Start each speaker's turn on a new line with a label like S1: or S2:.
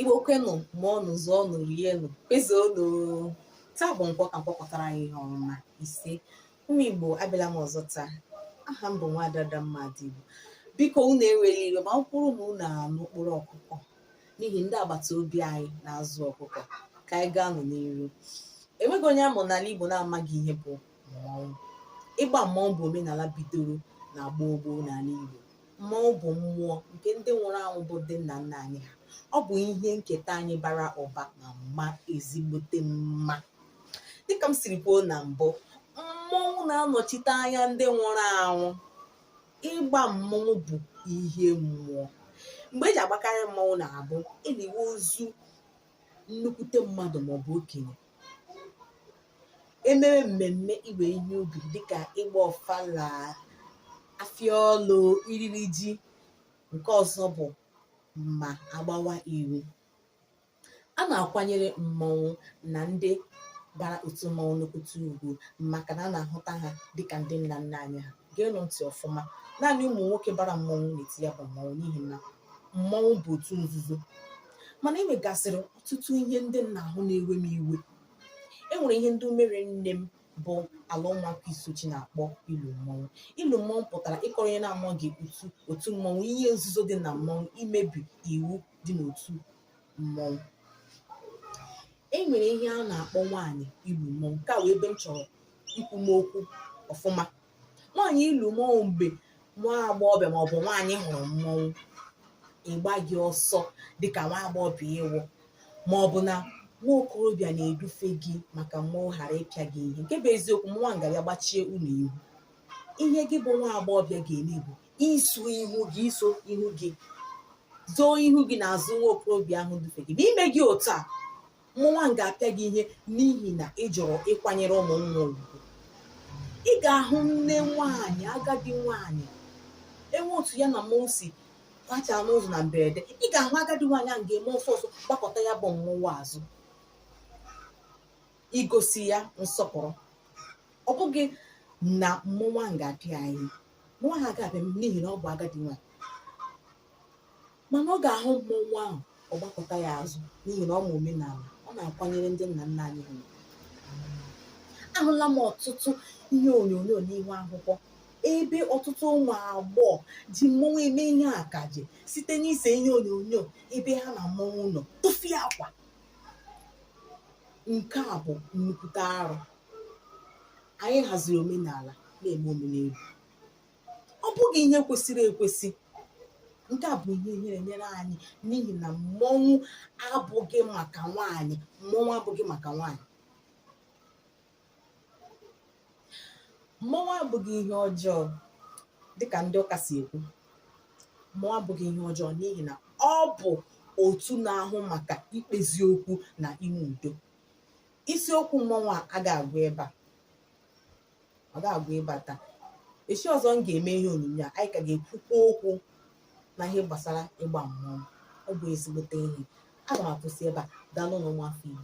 S1: igbo kwenụ mụọnụ zụọnụ rienụ kwezuonụ taa bụ nkwọ ka nkwọ kwọtara anyị ihe ọma isee ụmụ igbo abịala m ọzọ taa aha m bụ nwaada Adamma Adaigbo biko unu ewele iwe ma ọ wụrụ na unu anụ mkpọtụ ọkụkọ n'ihi ndị agbata obi anyị na-azụ ọkụkọ ka anyị gaa nụ n'iru enweghị onye amụ n'ala igbo na-amaghị ihe bụ mmọnwụ ịgba mmọnwụ bụ omenala bidoro na gboo gboo n'ala Igbo mmọnwụ bụ mmụọ nke ndị nwụrụ anwụ bụ ndị nna nna anyị ha ọ bụ ihe nketa anyị bara ụba maa mma ezigbote mma dịka m siri kwuo na mbụ mmọnwụ na-anọchite anya ndị nwụrụ anwụ ịgba mmọnwụ bụ ihe mmụọ mgbe eji agbakarị mmọnwụ na-abụ eliwe ozu nnukwute mmadụ maọbụ okenye emere mmemme iwe ihe ubi dịka ịgba ọfala afịa ọlụ iriri ji nke ọzọ bụ ma agbawa iwu a na-akwanyere mmọnwụ na ndị bara otu mmọnwụ nnukwute ugwu maka na a na-ahụta ha dịka ndị nna nna anyị ha geenụ ntị ọfụma naanị ụmụ nwoke bara mmọnwụ na-eti ya bụ mmọnwụ n'ihi na mmọnwụ bụ otu nzuzo mana e nwegasịrị ọtụtụ ihe ndị m na-ahụ na-ewe m iwe e nwere ihe ndị umere nne m bụ ala Ụmụakụ Isuochi na-akpọ ilu mmọnwụ ilu mmọnwụ pụtara ịkọrọ onye na-amaghị otu otu mmọnwụ ihe nzuzo dị na mmọnwụ imebi iwu dị n'otu mmọnwụ e nwere ihe a na-akpọ nwaanyị ilu mmọnwụ nke a wụ ebe m chọrọ ikwu m okwu ọfụma nwaanyị ilu mmọnwụ mgbe nwa agbọghọbịa maọbụ nwaanyị hụrụ mmọnwụ ị gbaghị ọsọ dịka nwa agbọghọbịa ị wụ maọbụ na nwa okorobịa na-edufe gị maka mmọnwụ ghara ịpịa gị ihe nke bụ eziokwu mmọnwụ ahụ gagharịa gbachie unu ihu ihe gị bụ nwa agbọghọbịa ga-eme bụ isu ihu gị isu ihu gị zoo ihu gị n'azụ nwa okorobịa ahụ dufe gị na i meghị otu a mmọnwụ ahụ ga-apịa gị ihe n'ihi na ị jụrụ ịkwanyere mmọnwụ ahụ ugwu ị ga-ahụ nne nwaanyị agadi nwaanyị enwe otu ya na mmọnwụ si gachaa n'ụzọ na mberede ị ga-ahụ agadi nwaanyị ahụ ga-eme ọsọ ọsọ gbakụta ya bụ mmọnwụ azụ igosi ya nsọpụrụ ọ bụghị na mmọnwụ ahụ ga-apịa ya mmọnwụ ahụ agaghị apịa n'ihi na ọ bụ agadi nwaanyị mana ọ ga-ahụ mmọnwụ ahụ ọ gbakụta ya azụ n'ihi na ọ ma omenala ọ na-akwanyere ndị nna nna anyị ugwu ahụla m ọtụtụ ihe onyonyo n'ihu akwụkwọ ebe ọtụtụ ụmụ agbọghọ ji mmọnwụ eme ihe akaje site n'ise ihe onyonyo ebe ha na mmọnwụ nọ tufiakwa nke a bụ nnukwute arụ anyị haziri omenala na-eme omenelu ọ bụghị ihe kwesịrị ekwesị nke a bụ ihe ihere nyere anyị n'ihi na mmọnwụ abụghị maka nwaanyị mmọnwụ abụghị maka nwaanyị mmọnwụ abụghị ihe ọjọọ dịka ndị ụka si ekwu mmọnwụ abụghị ihe ọjọọ n'ihi na ọ bụ otu na-ahụ maka ikpezi okwu na inwe udo isiokwu mmọnwụ a ga-agwụ ebe a ọ ga-agwụ ebe a taa echi ọzọ m ga-eme ihe onyonyo a anyị ka ga-ekwukwa okwu na ihe gbasara ịgba mmọnwụ ọ bụ ezigbote ihe aga m akwụsị ebe a daalụnụ ụmụafọ Igbo